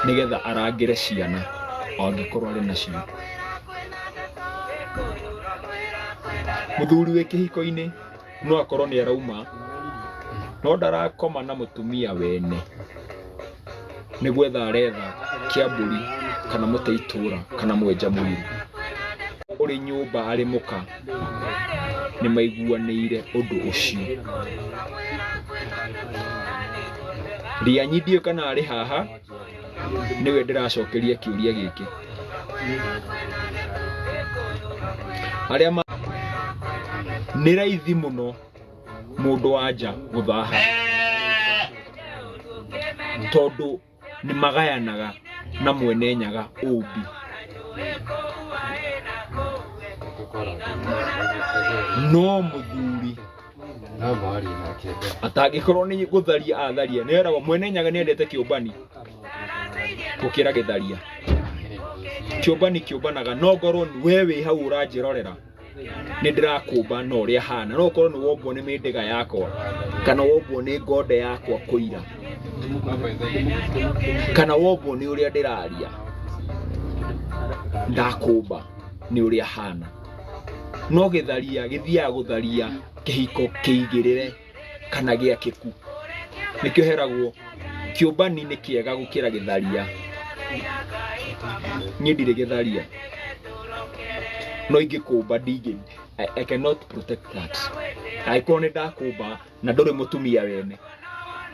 nĩgetha arangĩre ciana angĩkorwo arĩ nacio. Mũthuri wĩ kĩhiko-inĩ no akorwo nĩ arauma no ndarakoma na mũtumia wene. nĩ gwetha aretha kĩambũri kana mũte itũra kana mwenja mwĩrĩ ũrĩ nyũmba arĩ mũka nĩ maiguanĩire ũndũ ũcio rianyidie kana arĩ haha nĩwe ndĩracokeria kĩũria gĩkĩ arĩa ma nĩ raithi mũno mũndũ wa nja gũthaha tondũ nĩ magayanaga na mwene nyaga ũmbi no mũthuri atangĩkorwo nĩ gũtharia atharia nĩ eragwo mwene nyaga nĩ endete kĩũmbani gũkĩra gĩtharia kĩũmbani kĩũmbanaga no ngorwo we wĩ hau ũranjĩrorera nĩ ndĩrakũmba na ũrĩa hana no ũkorwo nĩ wombwo nĩ mĩndĩga yakwa kana wombwo nĩ ngonde yakwa kũira kana wombwo nĩ ũrĩa ndĩraria ndakũmba nĩ ũrĩa hana no gĩtharia gĩthiaga gũtharia kĩhiko kĩigĩrĩre kana gĩakĩku nĩkĩo heragwo kĩũmbani nĩ kĩega gũkĩra gĩtharia niĩ ndirĩ gĩtharia no ingĩkũmba ndingĩ I, I cannot protect that angĩkorwo nĩ ndakũmba na ndũrĩ mũtumia wene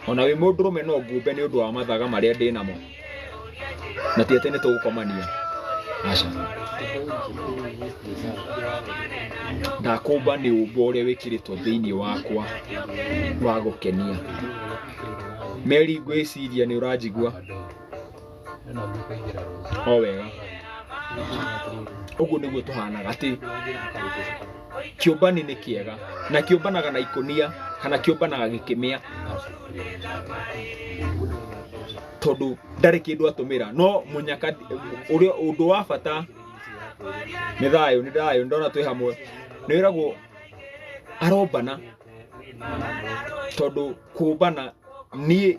ona wĩ mũndũrũme no ngũmbe nĩ ũndũ wa mathaga marĩa ndĩ namo na ti atĩ nĩ tũgũkomania aca ndakũmba nĩ ũmbo ũrĩa wĩkĩrĩtwo thĩinĩ wakwa wa gũkenia meri ngwĩciria nĩ ũranjigua o wega ũguo nĩguo tũhanaga atĩ kĩũmbani nĩ kĩega na kĩũmbanaga na ikũnia kana kĩũmbanaga gĩkĩmĩa tondũ ndarĩ kĩndũ atũmĩra no mũnyaka ũrĩa ũndũ wa bata nĩ thayũ nĩ thayũ ndona twĩ hamwe nĩ wĩragwo arombana tondũ kũmbana niĩ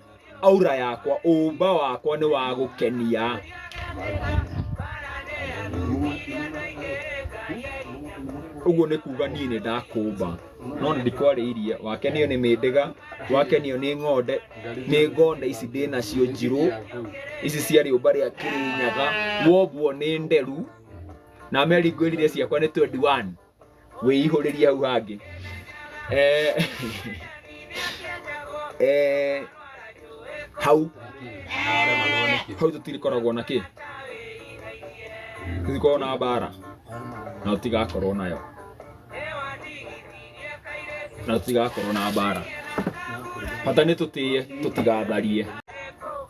aura yakwa ũmba wakwa nĩ wa gũkenia ũguo nĩ kuga niĩ nĩ ndakũmba no nĩ ndikwarĩirie wakenio nĩ mĩndĩga wakenio nĩ ng'onde nĩ ng'onde ici ndĩ nacio njirũ ici cia rĩũmba rĩa kĩrĩnyaga wombwo nĩ nderu na meri ngwĩrire ciakwa nĩ 21 wĩihũrĩrie hau hangĩ eh, eh, hau hau tũtirikoragwo na kĩ tũtikoragwo na mbara na tũtigakorwo nayo na tũtigakorwo na mbara bata nĩ tũtĩye tũtigatharie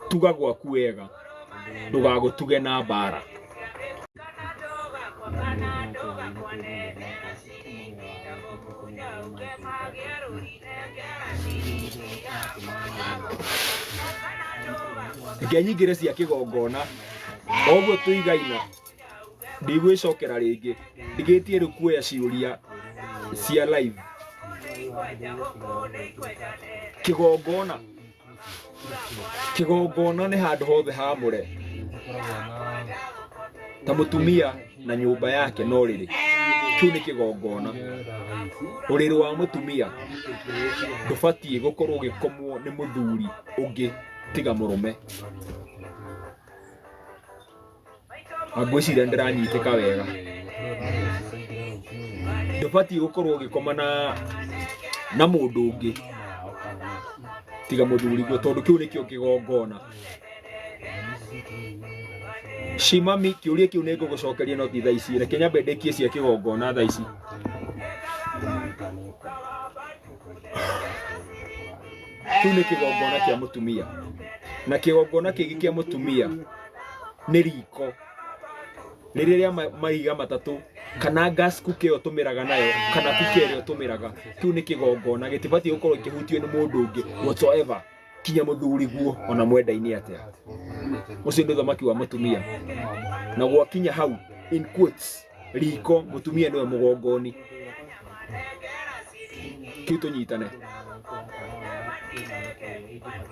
tuga gwaku wega ndũgagũtuge na mbara reke nyingĩre cia kĩgongona o ũguo tũigaina ndigwĩcokera rĩngĩ ndigĩtie rĩu kuoya ciũria cia live kĩgongona Kĩgongona nĩ handũ hothe haamũre, ta mũtumia na nyũmba yake no rĩrĩ, kĩu nĩ kĩgongona. Ũrĩrĩ wa mũtumia ndũbatiĩ gũkorwo ũgĩkomwo nĩ mũthuri ũngĩ tiga mũrũme. ngwĩciria ndĩranyitĩka wega ndũbatiĩ gũkorwo ũgĩkoma na na mũndũ ũngĩ tiga mũthuriguo tondũ kĩu nĩkĩo kĩgongona shimami kĩũria kĩu nĩ ngũgũcokeria no ti thaa ici reke nyambe ndĩkie cia kĩgongona thaa ici kĩu nĩ kĩgongona kĩa mũtumia na kĩgongona kĩngĩ kĩa mũtumia nĩ riko nĩ rĩrĩa ma- maiga matatũ kana gas cooker ĩyo tũmĩraga nayo kana cooker ĩrĩa tũmĩraga kĩu nĩ kĩgongona gĩtibatiĩ gũkorwo kĩhutio nĩ mũndũ ũngĩ whatsoever kinya mũthuri guo ona mwendainĩ atĩa ũcio nĩ ũthamaki wa mũtumia na gwakinya hau in quotes riko mũtumia nĩwe mũgongoni kĩu tũnyitane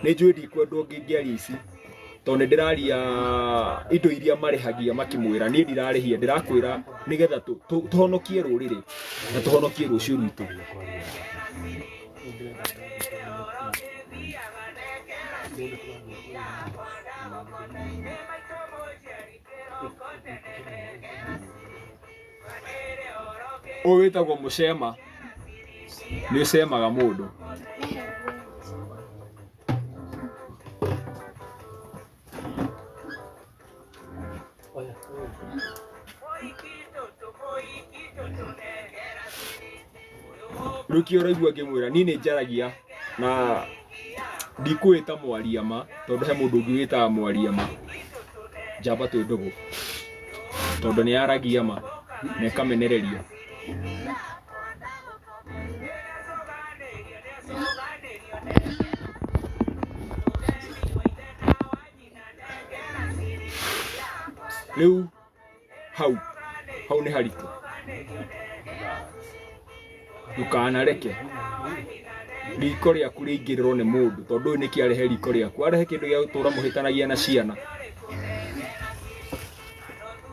nĩ njũĩ ndikwendwo ngĩngĩaria ici tondũ nĩ ndĩraria indo iria marĩhagia makĩmwĩra niĩ ndirarĩhia ndĩrakwĩra nĩgetha tũ- tũ- tũhonokie rũrĩrĩ na tũhonokie rũciũ rwitũ ũyũ wĩtagwo mũcema nĩ ũcemaga mũndũ ruki ũraigua ngĩmwĩra niĩ nĩ njaragia na ndikwĩta mwaria ma tondũ he mũndũ ũngĩ wĩtaga mwaria ma njamba twĩ ndũgũ tondũ nĩ yaragia ma na ĩkamenereria rĩu hau hau nĩ haritũ ndũkanareke riko rĩaku rĩingĩrĩrwo nĩ mũndũ tondũ ũyũ nĩkĩ arehe riko rĩaku arehe kĩndũ gĩa gũtũra mũhĩtanagia na ciana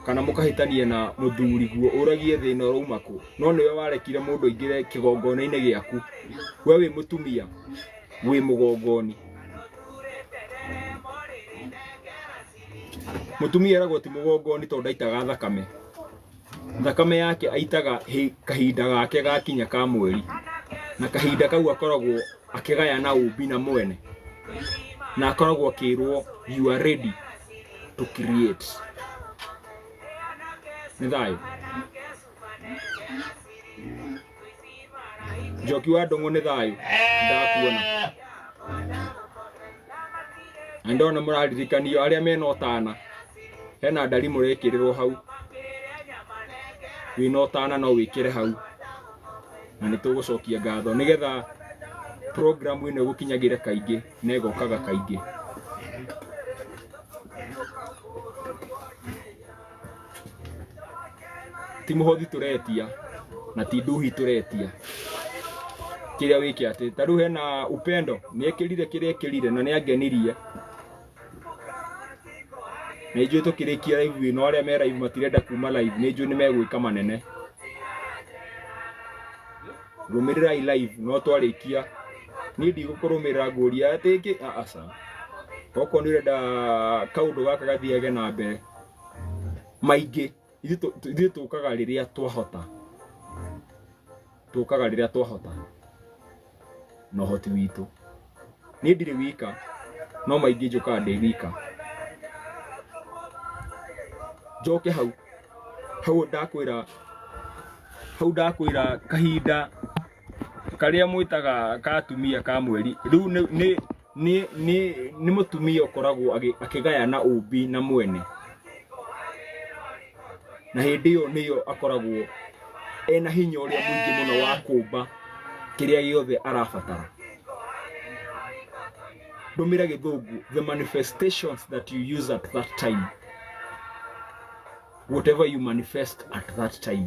kana mũkahĩtania na mũthuri guo ũragie thĩna ũrauma kũ no nĩwe warekire mũndũ aingĩre kĩgongona-inĩ gĩaku we wĩ mũtumia wĩ mũgongoni mũtumia eragwo ti mũgongoni tondũ ndaitaga thakame thakame yake aitaga hĩ- kahinda gake gakinya ka mweri na kahinda kau akoragwo akĩgaya na ũmbi na mwene na akoragwo akĩrwo you are ready to create nĩ thayũ njoki wa ndũng'ũ nĩ thayũ ndakuona na ndona mũraririkanio arĩa mena ũtana hena ndari mũrekĩrĩrwo hau wĩna ũtana no wĩkĩre hau na nĩ tũgũcokia ngatho nĩgetha programu ĩno ĩgũkinyagĩre kaingĩ na ĩgokaga kaingĩ ti muhothi turetia na ti nduhi turetia kiria wiki ati ta riu hena upendo ni ekirire kiria ekirire na ni angenirie na ijui tukirikia live ino aria me live matirenda kuma live ni ijui ni megwika manene rumirirai live no twarikia ni ndigũkũrũmĩrĩra ngũria atĩ ĩngĩ aca okorwo nĩ ũrenda kaũndũ gaka gathiage na mbere maingĩ ithuĩ tũ- tũ- ithuĩ tũkaga rĩrĩa twahota tũkaga rĩrĩa twahota na ũhoti witũ niĩ ndirĩ wika no maingĩ njũkaga ndĩ wika njoke hau hau ndakwĩra hau ndakwĩra kahinda karĩa mwĩtaga ka atumia ka mweri rĩu nĩ- nĩ nĩ nĩ nĩ mũtumia ũkoragwo agĩ- akĩgayana ũmbi na mwene na hĩndĩ ĩyo nĩyo akoragwo ena hinya ũrĩa mũingĩ mũno wa kũmba kĩrĩa gĩothe arabatara ndũmĩra gĩthũngũ the manifestations that you use at that time whatever you manifest at that time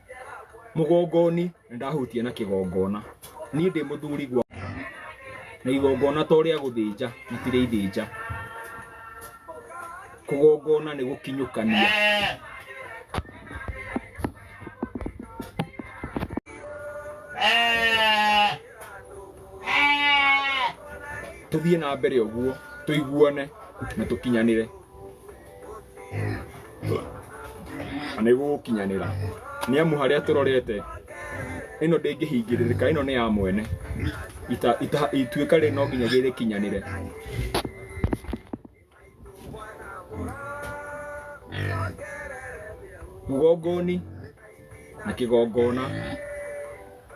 mũgongoni na ndahutia na kĩgongona niĩ ndĩ mũthuri gwa na igongona to rĩa gũthĩnja na ti rĩa ithĩnja kũgongona nĩ gũkinyũkania tũthiĩ na mbere ũguo tũiguane na tũkinyanĩre Na nĩ gũgũkinyanĩra nĩ amu harĩa tũrorete ĩno ndĩngĩhingĩrĩrĩka ĩno nĩ ya mwene Ita- ita- ituĩka rĩ no nginya gĩrĩkinyanĩre mũgongoni na kĩgongona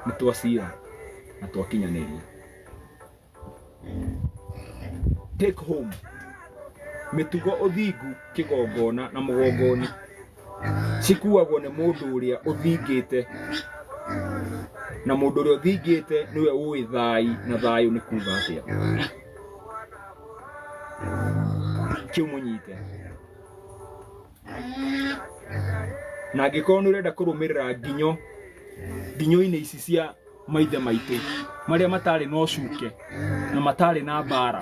nĩ twacira na twakinyanĩria Take home. Mĩtugo ũthingu kĩgongona na mũgongoni cikuagwo nĩ mũndũ ũrĩa ũthingĩte na mũndũ ũrĩa ũthingĩte nĩwe ũĩ thai na thayũ nĩ kuga atĩa kĩu mũnyite na angĩkorwo nĩ ũrenda kũrũmĩrĩra nginyo nginyo-inĩ ici cia maithe maitũ marĩa matarĩ na ũcuke na matarĩ na mbara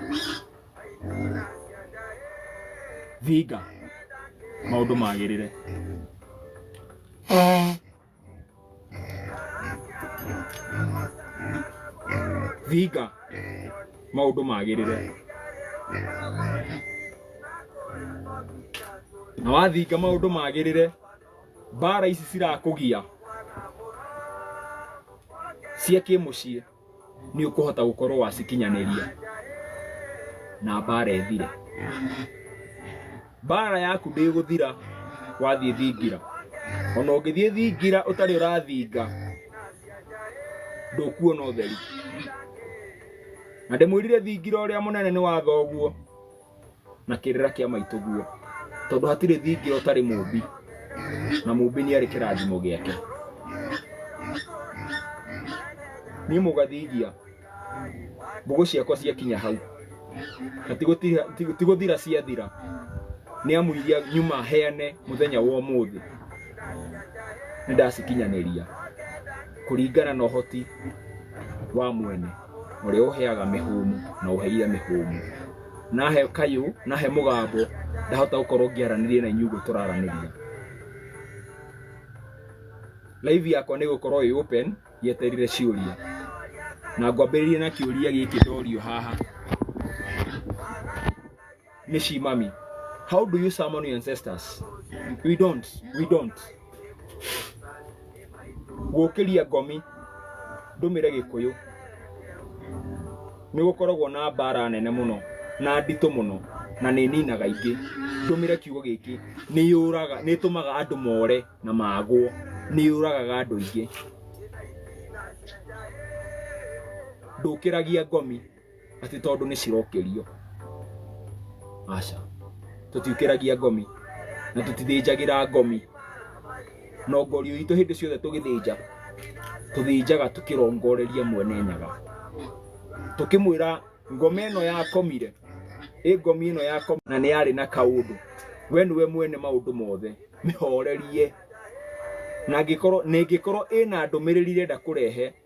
thinga maũndũ magĩrĩre thinga maũndũ magĩrĩre na wathinga maũndũ magĩrĩre mbara ici cirakũgia cia kĩmũciĩ nĩ ũkũhota gũkorwo wacikinyanĩria na mbara ĩthire. Mbara yaku ndĩgũthira wathiĩ thingira, ona ũngĩthiĩ thingira ũtarĩ ũrathinga ndũkuona ũtheri. Na ndĩmwĩrire thingira ũrĩa mũnene nĩ wa thoguo. na kĩrĩra kĩa maitũ guo tondũ hatirĩ thingira ũtarĩ mũmbi na mũmbi nĩ arĩ kĩrathimo gĩake niĩ mũgathingia mbũgũ ciakwa ciakinya hau na ti gũtira- ti- ti gũthira ciathira nĩ amu iria nyuma heane mũthenya wa ũmũthĩ nĩ ndacikinyanĩria kũringana na ũhoti wa mwene Ũrĩa ũheaga mĩhũmũ na ũheire mĩhũmũ. Nahe kayũ, nahe mũgambo, ndahota gũkorwo ngĩaranĩria na inyuĩ ũguo tũraranĩria. Live yakwa nĩ ĩgũkorwo ĩ open yeterire ciũria. Na ngwambĩrĩria na kĩũria gĩkĩ ndorio haha. ne shi mami how do you summon your ancestors we don't we don't gũkĩria ngomi ndũmĩre gĩkũyũ nĩ gũkoragwo na mbara nene mũno na nditũ mũno na nĩ ninaga ingĩ ndũmĩre kiugo gĩkĩ nĩ yũraga nĩ ĩtũmaga andũ more na magwo nĩ yũragaga andũ aingĩ ndũkĩragia ngomi atĩ tondũ nĩ cirokĩrio aca tũtiũkĩragia ngomi na tũtithĩnjagĩra ngomi no ngorio itũ hĩndĩ ciothe tũgĩthĩnja tũthĩnjaga tũkĩrongoreria mwene nyaga tũkĩmwĩra ngoma ĩno yakomire ĩ ngomi ĩno yako na nĩ yarĩ na kaũndũ we nĩwe mwene maũndũ mothe mĩhorerie na angĩkorwo na ĩngĩkorwo ĩna ndũmĩrĩri irenda kũrehe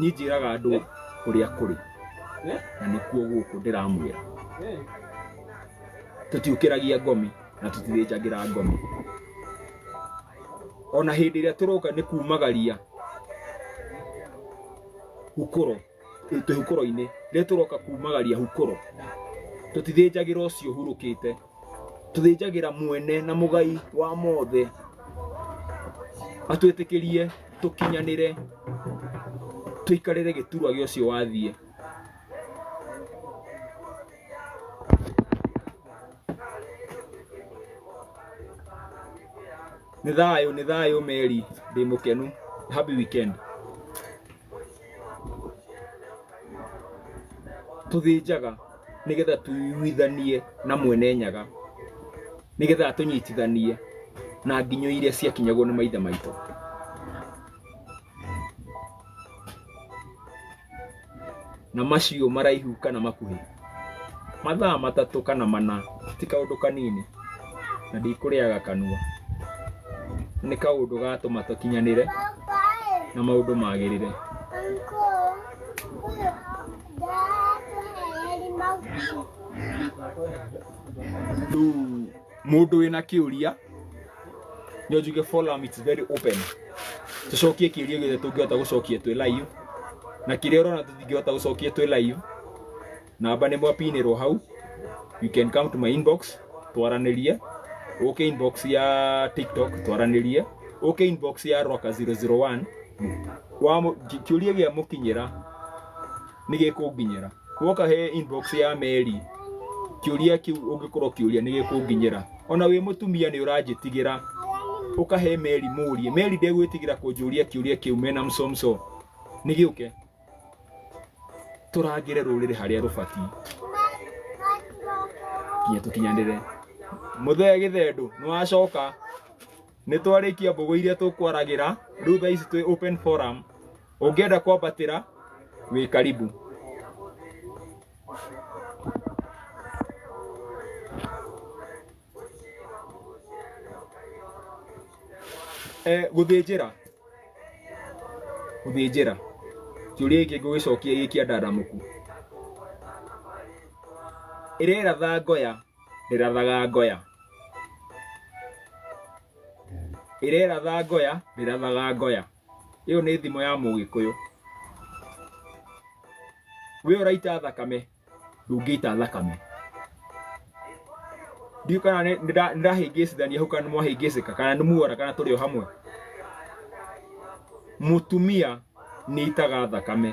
niĩ njĩraga andũ ũrĩa kũrĩ na nĩkuo gũkũ ndĩramwĩra tũtiũkĩragia ngomi na tũtithĩnjagĩra ngomi ona hĩndĩ ĩrĩa tũroka nĩ kumagaria hukũro ĩ- twĩ hukũro-inĩ rĩrĩa tũroka kumagaria hukũro tũtithĩnjagĩra ũcio ũhurũkĩte tũthĩnjagĩra mwene na mũgai wa mothe atwĩtĩkĩrie tũkinyanĩre tũikarĩre gĩturwa gĩa ũcio wathiĩ nĩ thayũ nĩ thayũ meri ndĩ mũkenu happy weekend tũthĩnjaga nĩgetha tũiguithanie na mwene nyaga nĩgetha atũnyitithanie na nginyo iria ciakinyagwo nĩ maithe maitũ na macio maraihu kana makuhĩ mathaa matatũ kana mana ti kaũndũ kanini na ndikũrĩaga kanua nĩ kaũndũ gatũma tũkinyanĩre na maũndũ magĩrĩre Thuu. mũndũ wĩna kĩũria nĩ njuge forum it's very open tucokie kĩũria gĩothe tũngĩhota gũcokia twĩ live na kĩrĩa ũrona tũtingĩhota gũcokia twĩ live namba nĩ mwapinĩrwo hau you can come to my inbox twaranĩrie ũke inbox ya tiktok twaranĩrie ũke inbox ya roka 001 wa kĩũria gĩa mũkinyĩra nĩgĩkũnginyĩra guoka he inbox ya meri kĩũria kĩu ũngĩkorwo kĩũria nĩgĩkũnginyĩra ona wĩ mũtumia nĩ ũranjĩtigĩra ũkahe meri mũrie meri ndegwĩtigĩra kũnjũria kĩũria kĩu mena msomso nĩgĩũke tũrangĩre rũrĩrĩ harĩa rũbatiĩ nginya tũkinyanĩre mũthee gĩthendũ nĩwacoka nĩ twarĩkia mbũgũ iria tũkwaragĩra rĩu thaa ici twĩ open forum ũngĩenda kwambatĩra wĩ karibu eh, gũthĩnjĩra gũthĩnjĩra kĩũria gĩkĩ ngũgĩcokia gĩkĩa ndadamuku ĩrera thangoya rĩrathaga ngoya ĩreratha ngoya rĩrathaga ngoya ĩyo nĩ thimo ya mũgĩkũyũ we ũraita thakame ndũngĩita thakame ndiũ kana nĩ- nĩnda- nĩndahĩngĩcithania hau kana nĩmwahĩngĩcĩka kana nĩmuora kana tũrĩ o hamwe mũtumia nĩ itaga thakame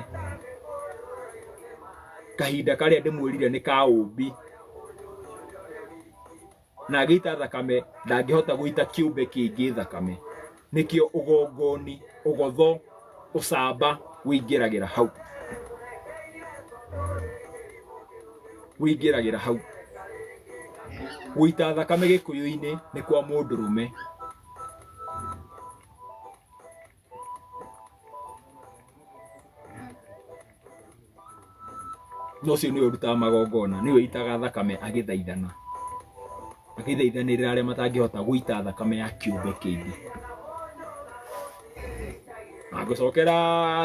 kahinda karĩa ndĩmwĩrire nĩ ka ũmbi na agĩita thakame ndangĩhota gũita kĩũmbe kĩngĩ thakame nĩkĩo ũgongoni ũgotho ũcamba wĩingĩragĩra hau wĩingĩragĩra hau gũita thakame gĩkũyũ-inĩ nĩ kwa mũndũrũme no ũcio nĩwe ũrutaga magongona nĩwe itaga thakame agĩthaithana agĩthaithanĩrĩra arĩa matangĩhota gũita thakame ya kĩũmbe kĩngĩ na ngũcokera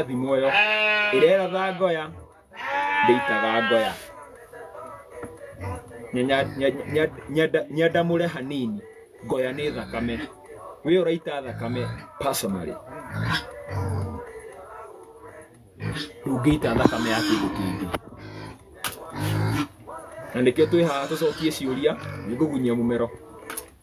thimũ ĩyo ĩrera thangoya ndĩitaga ngoya Nyenya- nyenya- nyenda- nyenda- nyendamũre hanini ngoya nĩ thakame wĩ ũraita thakame personally ndũngĩita thakame ya kĩndũ kĩngĩ na nĩkĩo twĩ haha tũcokie ciũria nĩngũgunyia mũmero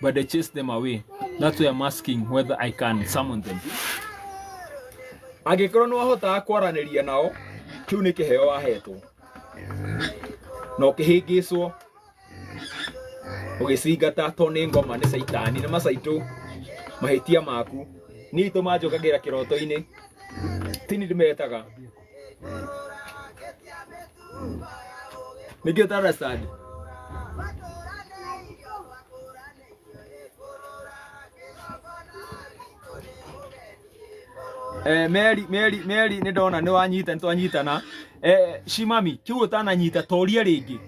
but they chase them away that's why i'm asking whether i can summon them angĩkorwo nĩ wahotaga kwaranĩria nao kĩu nĩ kĩheo wahetwo na ũkĩhĩngĩcwo ũgĩcingata to nĩ ngoma nĩ caitani nĩ macaitũ mahĩtia maku niĩ itũ manjũkagĩra kĩroto-inĩ tini ndĩmetaga nĩkĩ ũtaracitand Eh, Mary, Mary, Mary nĩ ndona nĩ wanyita nĩ twanyitana eh, Shimami kĩu ũtananyita toria rĩngĩ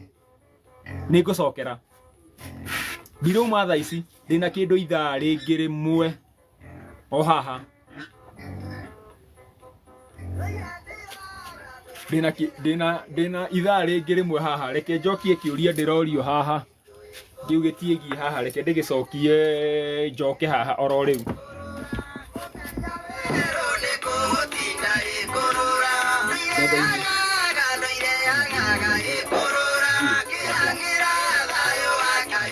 nĩ ngũcokera ndirauma thaa ici ndĩna kĩndũ ithaa rĩngĩ rĩmwe o haha ndĩna ki- ndĩna ndĩna ithaa rĩngĩ rĩmwe haha reke njokie kĩũria ndĩrorio haha kĩu gĩtiĩgiĩ haha reke ndĩgĩcokie njoke haha oro rĩu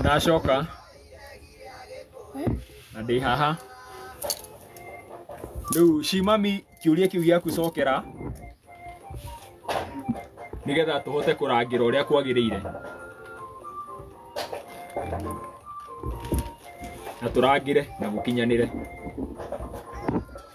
Ndacoka na ndĩ haha rĩu ci mami kĩũria kĩu gĩaku cokera nĩgetha tũhote kũrangĩra ũrĩa kwagĩrĩire na tũrangĩre na gũkinyanĩre.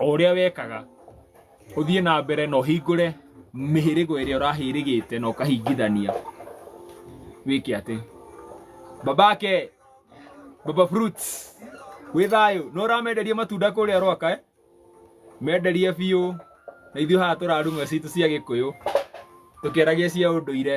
o ũrĩa wekaga ũthiĩ na mbere na ũhingũre mĩhĩrĩgo ĩrĩa ũrahĩrĩgĩte na ũkahingithania wĩke atĩ babake baba fruits wĩ thayũ no ũramenderia matunda kũrĩa rwaka eh? menderie biũ na ithuĩ haha tũrarumwo citũ cia gĩkũyũ tũkĩaragia cia ũndũire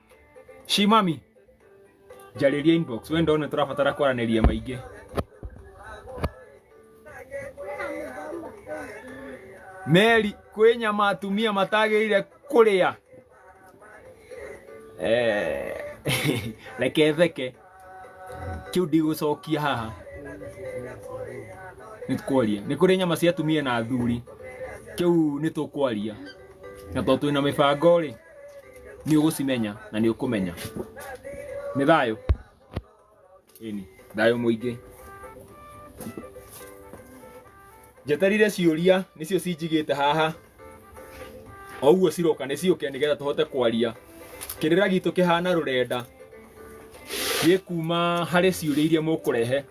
Shi mami njarĩria inbox we ndona tũrabatara kwaranĩria maingĩ Meri kwĩ nyama atumia matagĩrĩire kũrĩa Eh, reke theke kĩu ndigũcokia haha nĩ tũkwaria nĩ kũrĩ nyama cia atumia na athuri kĩu nĩ tũkwaria na tondũ twĩna mĩbango rĩ nĩ ũgũcimenya na nĩ ũkũmenya nĩ thayũ ĩni thayũ mũingĩ njeterire ciũria nĩcio cinjigĩte haha o ũguo ciroka nĩ ciũke nĩgetha tũhote kwaria kĩrĩra gitũ kĩhana rũrenda gĩkuma harĩ ciũria iria mũkũrehe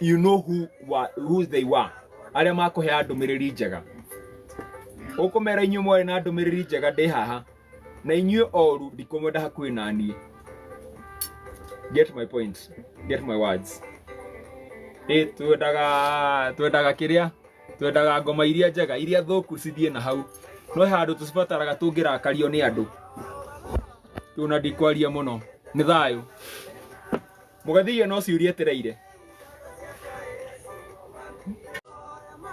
you know who wa- who they were arĩa makũheaga ndũmĩrĩri njega ũkũmera inyuĩ mwarĩ na ndũmĩrĩri njega ndĩ haha na inyuĩ oru ndikũmwenda hakuhĩ na niĩ get my point get my words ĩ twendaga twendaga kĩrĩa twendaga ngoma iria njega iria thũku cithiĩ na hau no he handũ tũcibataraga tũngĩrakario nĩ andũ tũna ndikwaria mũno nĩ thayũ Mũgethi iyo no ciũria ĩtereire.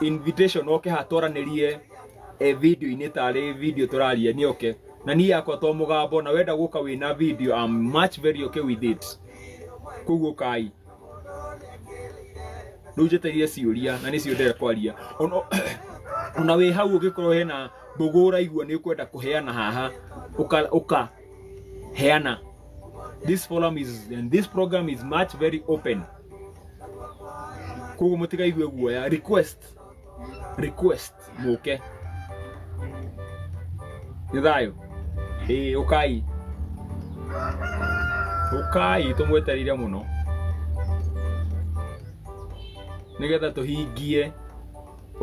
Invitation oke ha twaranĩrie eh, video-inĩ tarĩ video tũraria nĩ oke. Na niĩ yakwa to mũgambo na wenda gũka wĩna video I'm much very okay with it. Koguo ũkai. Rĩu njetereire ciũria na nĩcio ndĩrenda kwaria. Ona ona wĩ hau ũngĩkorwo hena mbũgũ ũraigua nĩ ũkwenda kũheana haha ũka ũka heana this forum is and this program is much very open koguo mũtikaigue guoya request request mũke nĩ thayũ ĩĩ ũkai ũkai tũmwetereire mũno nĩgetha tũhingie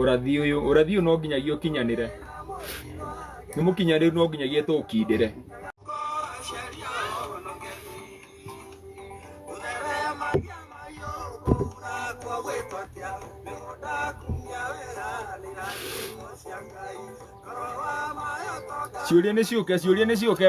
ũrathi ũyũ ũrathi ũyũ no nginyagia ũkinyanĩre nĩ mũkinyanĩru no nginyagia tũũkindĩre ciũria nĩ ciũke ciũria nĩ ciũke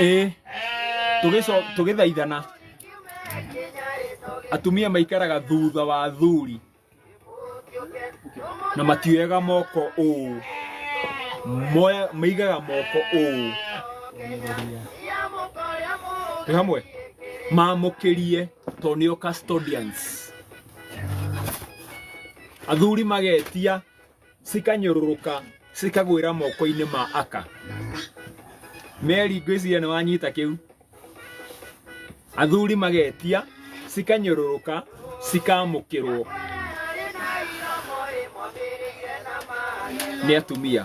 ĩĩ tũgĩco- tũgĩthaithana atumia maikaraga thutha wa athuri na matioyaga moko ũũ Moya- maigaga moko ũũ twĩ hamwe mamũkĩrie to nĩo custodians athuri magetia cikanyũrũrũka cikagwĩra moko-inĩ ma aka meri ngwĩciria nĩ wanyita kĩu athuri magetia cikanyũrũrũka cikamũkĩrwo nĩ atumia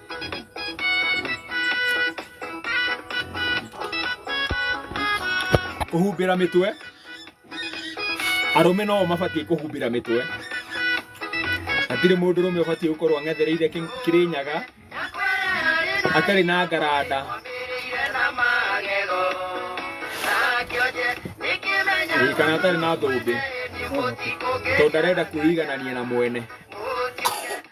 kũhumbĩra mĩtwe arũme no mabatiĩ kũhumbĩra mĩtwe hatirĩ mũndũ rũme ũbatiĩ gũkorwo ang'ethereire kĩ- kĩrĩnyaga atarĩ na ngaranda Ĩĩ, kana atarĩ na thũmbĩ tondũ ndarenda kwĩiganania na mwene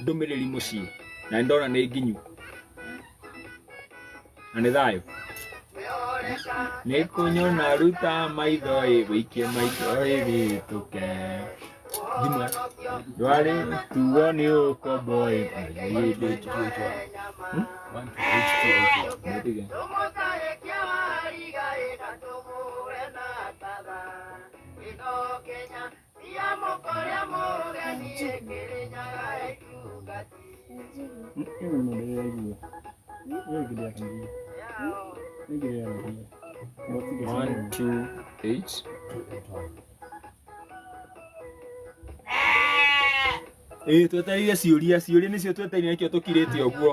ndũmĩrĩri mũciĩ na nĩndona nĩ nginyu na nĩ thayũ nĩkũnyona ruta maitho ĩ wĩikie maitho ĩ wĩtũke thimũ ndwarĩ tuo nĩ ũkombo ĩ mũyĩndĩ Kenya One, two, eight. Ĩĩ twetereire ciũria ciũria nĩcio twetereire nĩkĩo tũkirĩte ũguo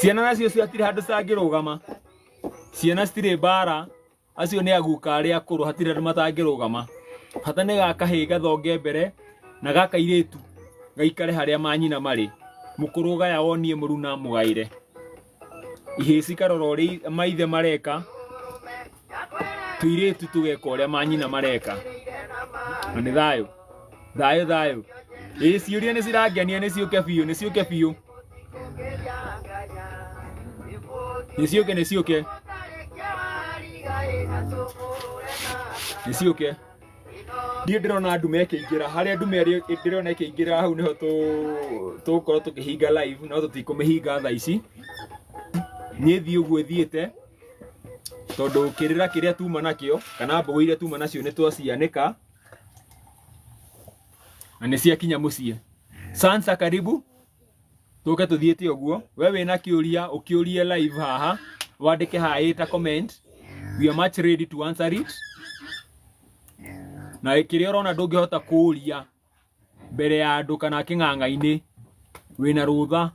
ciana nacio cio hatirĩ handũ cangĩrũgama ciana citirĩ mbara acio nĩ aguka arĩa akũrũ hatirĩ andũ matangĩrũgama bata nĩ gakahĩ gathonge mbere na gaka irĩtu gaikare harĩa manyina marĩ mũkũrũ gaya wonie mũruna mũgaĩre ihĩĩ cikarora ũrĩa maithe mareka tuirĩtu tũgeka ũrĩa manyina mareka na nĩ thayũ thayũ thayũ ĩ ciũria nĩ cirangenia nĩ ciũke biũ nĩ ciũke biũ nĩ ciũke nĩ ciũke nĩ ciũke Niĩ ndĩrona ndume ĩkĩingĩra, harĩa ndume ĩrĩ- ndĩrona ĩkĩingĩra hau nĩho tũ- tũgũkorwo tũkĩhinga live no tũtikũmĩhinga thaa ici. Niĩ thiĩ ũguo ĩthiĩte tondũ kĩrĩra kĩrĩa tuma nakĩo kana mbũgũ iria tuma nacio nĩ twacianĩka na nĩ ciakinya mũciĩ. Sansa karibu. tũke tũthiĩte ũguo we wĩna kĩũria ũkĩũrie live haha wandĩke haha ĩta comment we are much ready to answer it na kĩrĩa ũrona ndũngĩhota kũũria mbere ya andũ kana kĩng'ang'a-inĩ wĩna rũtha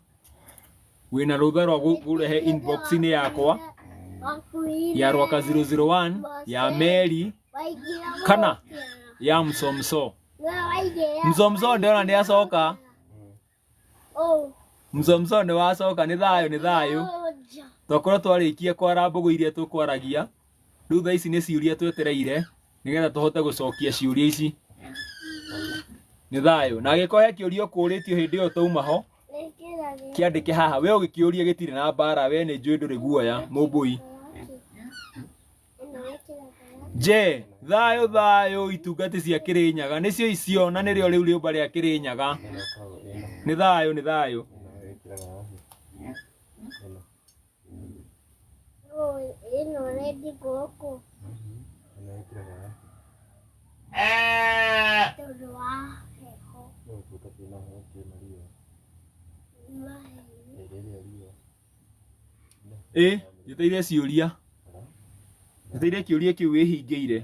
wĩna rũtha rwa gũ- kũrehe inbox-inĩ yakwa ya rwaka 001 ya meri kana ya msomso mzomzo ndiona ni acoka mzomzo ni wacoka ni thayo ni thayo twakorwo twarĩkie kwara mbũgũ iria tũkwaragia rĩu tha ici nĩ ciũria twetereire nĩgetha tũhote gũcokia ciũria ici nĩ thayũ na agĩkorwo he kĩũria ũkũrĩtio hĩndĩ ĩyo tauma ho kĩandĩke haha we ũgĩkĩũria gĩtirĩ na mbara we nĩ njũĩ ndũrĩ guoya mũmbũi Je, thayũ thayũ itungati cia Kĩrĩnyaga nĩcio icio na nĩrĩo rĩu rĩũmba rĩa Kĩrĩnyaga. Nĩ thayũ, nĩ thayũ. ĩno rendi gũkũ tondũ wa heho mahehu ĩ njeteire ciũria njeteire kĩũria kĩu wĩhingĩire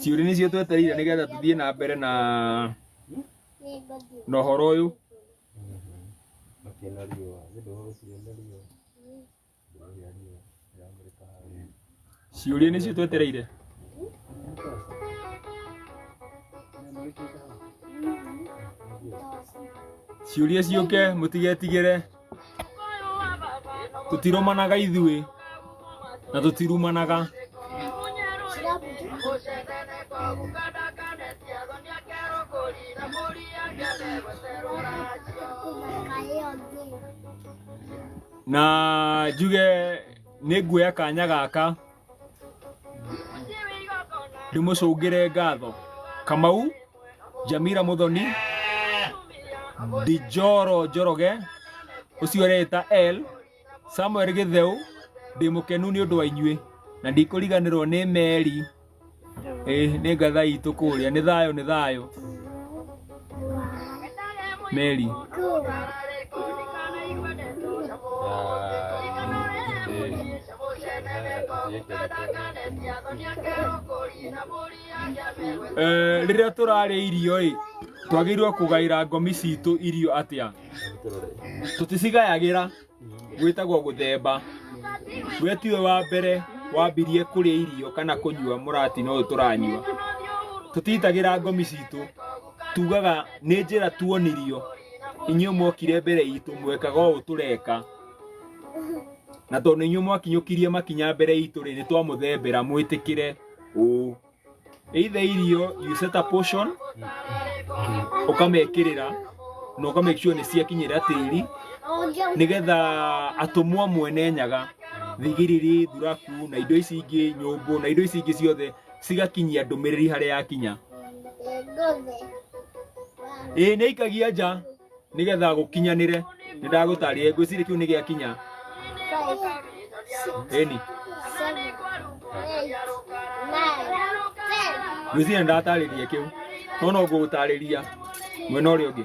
ciũria nĩcio twetereire nĩgetha tũthiĩ na mbere na na ũhoro ũyũ ciũria nĩcio twetereire ciũria ciũke mũtigetigĩre tũtirũmanaga ithuĩ na tũtirumanaga Thank you. na njuge nĩ nguoya kanya gaka ndĩmũcũngĩre ngatho kamau jamira muthoni dijoro njoroge ũcio ũreĩta l samuel gĩtheu ndĩmũkenu nĩ ũndũ wa inyuĩ na ndikũriganĩrwo nĩ meri ĩĩ nĩ ngatha itũ kũrĩa nĩ thayũ nĩ thayũ meri Eh, rĩrĩa tũrarĩa irio ĩ twagĩrĩirwo kũgaĩra ngomi citũ irio atĩa tũticigayagĩra gwĩtagwo gũthemba we tiwe wa mbere wambirie kũrĩa irio kana kũnyua mũratina ũyũ tũranyua tũtitagĩra ngomi citũ tugaga nĩ njĩra tuonirio inyuĩ mwokire mbere itũ mwekaga ũũ tũreka na tondũ inyuĩ mwakinyũkirie makinya mbere itũ rĩ nĩ twamũthembera mwĩtĩkĩre ũũ either irio you set a portion ukamekirira na ukamake sure ni ciakinyira tiri nigetha atumwo amwe ne nyaga thigiriri thuraku na indo ici ingĩ nyũmbũ na indo ici ingĩ ciothe cigakinyia ndũmĩrĩri harĩa yakinya ĩĩ nĩ ikagia nja nigetha gukinyanire ni ndagutaririe ngwiciri kiu ni giakinya eni ngwiciri ni ndataririe kiu no no ngugutariria mwena uria ungi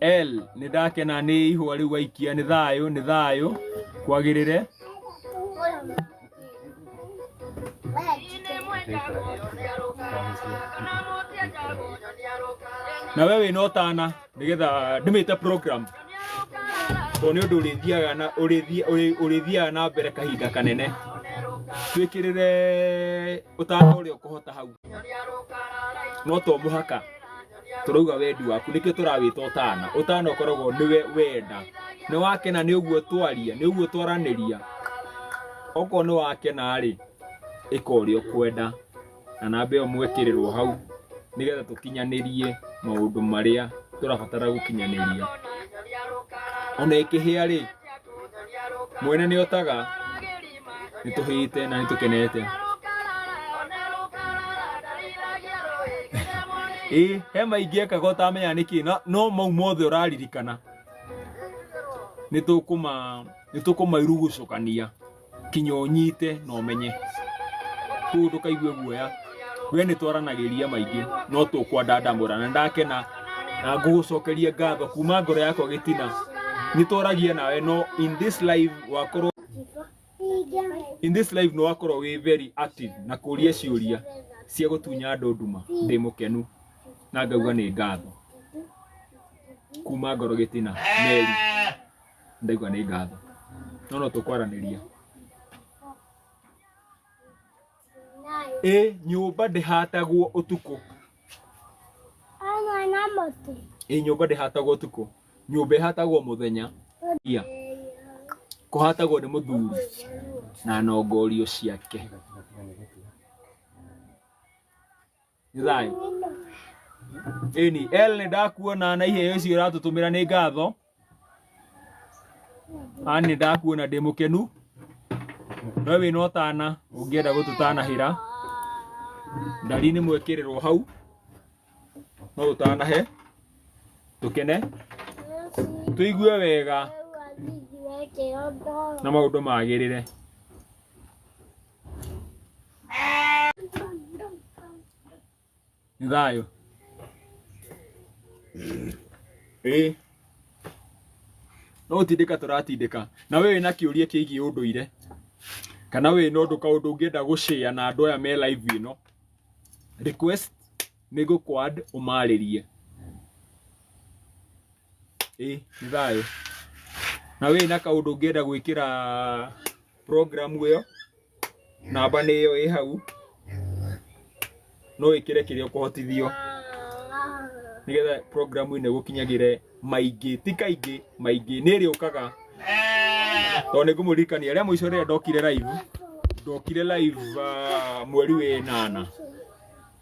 El nĩ ndakena nĩ ihũa rĩu waikia nĩ thayũ nĩ thayũ kwagĩrĩre na we wĩna ũtana nĩgetha ndĩmĩte program tondũ nĩ ũndũ ũrĩthiaga na ũrĩthi- ũrĩ- ũrĩthiaga na mbere kahinda kanene twĩkĩrĩre ũtana ũrĩa ũkũhota hau no to mũhaka tũrauga wendi waku nĩkĩo tũrawĩta ũtana ũtana ũkoragwo nĩwe wenda nĩ wakena nĩ ũguo twaria nĩ ũguo twaranĩria okorwo nĩ wakena rĩ ĩka ũrĩa ũkwenda na namba ĩyo mwekĩrĩrwo hau nĩgetha tũkinyanĩrie maũndũ marĩa tũrabatara gũkinyanĩria ona ĩkĩhĩa rĩ mwene nĩ otaga nĩ tũhĩte na nĩ tũkenete ĩ he maingĩ ekaga ũtamenya nĩkĩ no- no mau mothe ũraririkana nĩ tũkũma nĩ tũkũmairugucũkania kinya ũnyite na ũmenye kũu ndũkaigue guoya we nĩ twaranagĩria maingĩ no tũkwandandamũra na ndakena na ngũgũcokeria ngatho kuma ngoro yakwa gĩtina nĩ twaragia nawe no in this life wakorwo in this life no wakorwo wĩ very active na kũria ciũria cia gũtunya andũ nduma ndĩ mũkenu na ngauga nĩ ngatho kuma ngoro gĩtina meri ndaigua nĩ ngatho no no tũkwaranĩria Ĩ nyũmba ndĩhatagwo ũtukũ. Hamwe na mũtĩ. Ĩ nyũmba ndĩhatagwo ũtukũ. Nyũmba ĩhatagwo mũthenya. Ia. Kũhatagwo nĩ mũthuri na nongorio ciake. nĩ thayũ ĩni el nĩ ndakuona na iheo icio ũratũtũmĩra nĩ ngatho ani nĩ ndakuona ndĩ mũkenu we wĩna ũtana ũngĩenda gũtũtanahĩra ndari nĩ mwĩkĩrĩrwo hau no ũtanahe tũkene tũigue wega na maũndũ magĩrĩre Nĩ thayũ. Ĩĩ. No gũtindĩka tũratindĩka. Na wee wĩna kĩũria kĩgiĩ ũndũire, kana wĩna ũndũ kaũndũ ũngĩenda gũ share na andũ aya me live ĩno, request. nĩ gũkwad ũmarĩrie ĩ nĩ thayũ na wĩ na kaũndũ ũngĩenda gwĩkĩra program ĩyo namba nĩ ĩyo ĩ hau no wĩkĩre kĩrĩa ũkũhotithio nĩgetha program ĩno ĩgũkinyagĩre maingĩ ti kaingĩ maingĩ nĩ ĩrĩũkaga tondũ nĩ ngũmũririkania rĩa mũico rĩrĩa ndokire live ndokire live ah, mweri wenana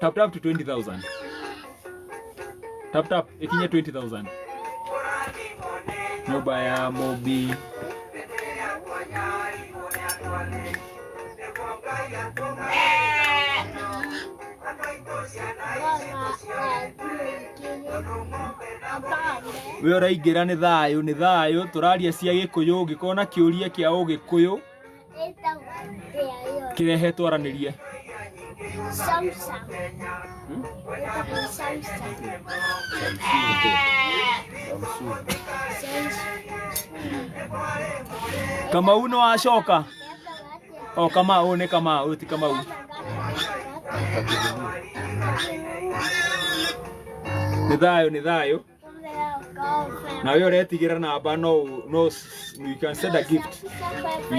Tap tap to 20,000. Tap tap ekinye 20,000. Nyoba ya Mobi. we ũraingĩra nĩ thayũ nĩ thayũ tũraria cia gĩkũyũ ũngĩkorwo na kĩũria kĩa ũgĩkũyũ Kirehe twaranirie. Kamau no acoka. O Kamau nĩ Kamau ti Kamau. Nĩ thayũ nĩ thayũ. na we ũretigĩra namba no ũ- no s- you can send a gift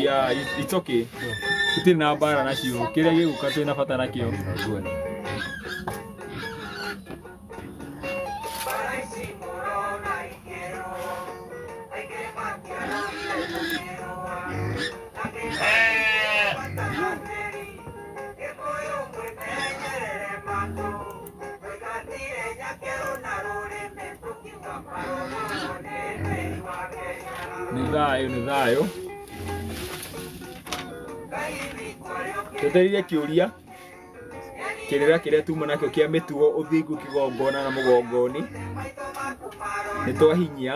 yeah it, it's okay tũtirĩ na mbara nacio kĩrĩa gĩgũka twĩ na bata nakĩo nĩ thayũ nĩ thayũ twetereire kĩũria kĩrĩra kĩrĩa tuma nakĩo kĩa mĩtugo ũthingu kĩgongona na mũgongoni nĩ twahinyia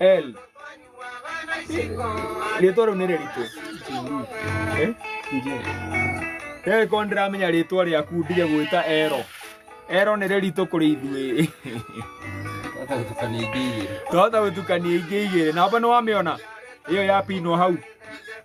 L. Rĩtwa rĩu nĩ rĩritũ. Eh? Rĩrĩ korwo ndĩramenya rĩtwa rĩaku ndige gwĩta Ero. Ero nĩ rĩritũ kũrĩ ithuĩ. Twahota gũtukania ingĩ igĩrĩ. Namba nĩ wamĩona? Ĩyo ya pinwo hau.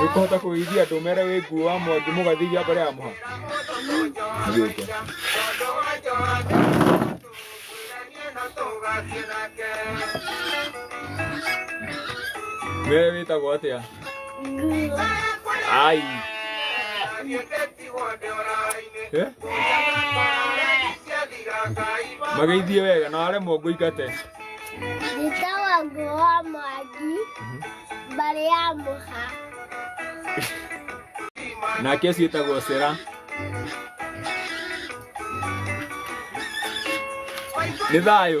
Nĩũkũhota kũgĩithia andũ mere wĩ nguo wa mwangi mũgathithia mbere ya mũha. Gĩũke. We wĩtagwo atĩa? Ai. Eh? Mageithie wega na aremwo ngũingate. Njĩtawa nguo wa mwaki mbarĩ ya mũha. Nake ũcio wĩtagwo Sera. Nĩ thayũ.